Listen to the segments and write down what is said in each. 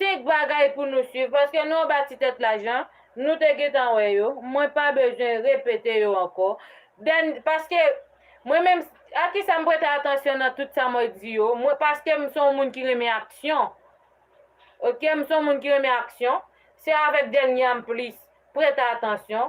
5 bagay pou nou swiv, paske nou anba ti tèt la jan nou te gentan wè yo, mwen pa bezwen repete yo ankò, dèn, paske mwen menm, a kisa m prete atansyon nan tout sa mwen di yo, mwen, paske m son w moun ki renmen aksyon, ok, m son w moun ki renmen aksyon, se avèk dènye a m plis prete atansyon,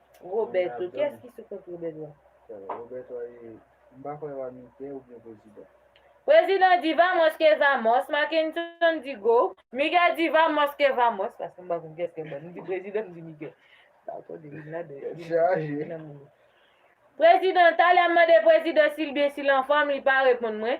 Roberto, kiyès ki sou kont Roberto a? Sèl Roberto a ye, m pa kwè wa Mike oubyen prezidan. Prezidan di vamos que vamos, Mackenson di go, Miguel di vamos que vamos, paske m pa konn kiyès ki anba, m di prezidan m di Miguel. Tèt chaje. Prezidan, talè m mande prezidan si l byen, si l anfòm, li pa reponn mwen.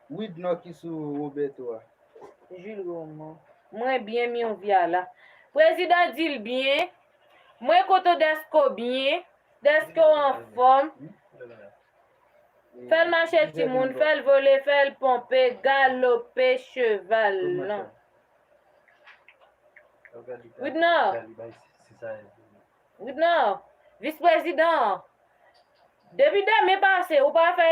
Wid non ki sou Roberto a. Jules Raymond. Mwen byen mion via la. Prezidan dil byen. Mwen kontan deske w byen. Deske w anfom. Fel mache timoun. Fel vole. Fel ponpe. Galope cheval lan. Widnor. Widnor. Vis prezidan. Depi demen pase ou pa fe.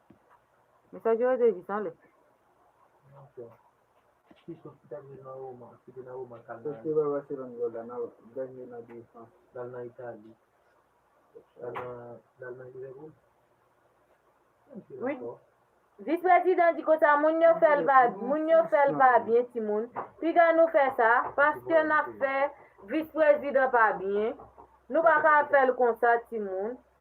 Mesaj yo rete jis anlè. Vis prezidan di konsa moun yo fèl pa moun yo fèl pa byen ti moun piga nou fè sa paske nap fè vis prezidan pa byen nou paka fèl konsa ti moun.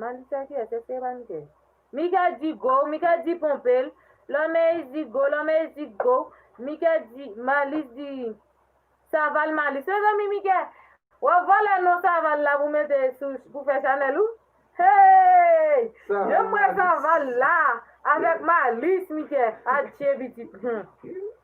Mann fè kè, se fè mann kè. Mika di go, Mika di ponpe l. Lòmèy di go, Lòmèy di go. Mika di, Malis di, Saval Malis. Mezanmi Mika, w ap vòlè non Saval la pou mete sou, pou fè chanèl ou? Hey! Yo m wè Saval la avèk Malis Mika, adje pitit. Hum!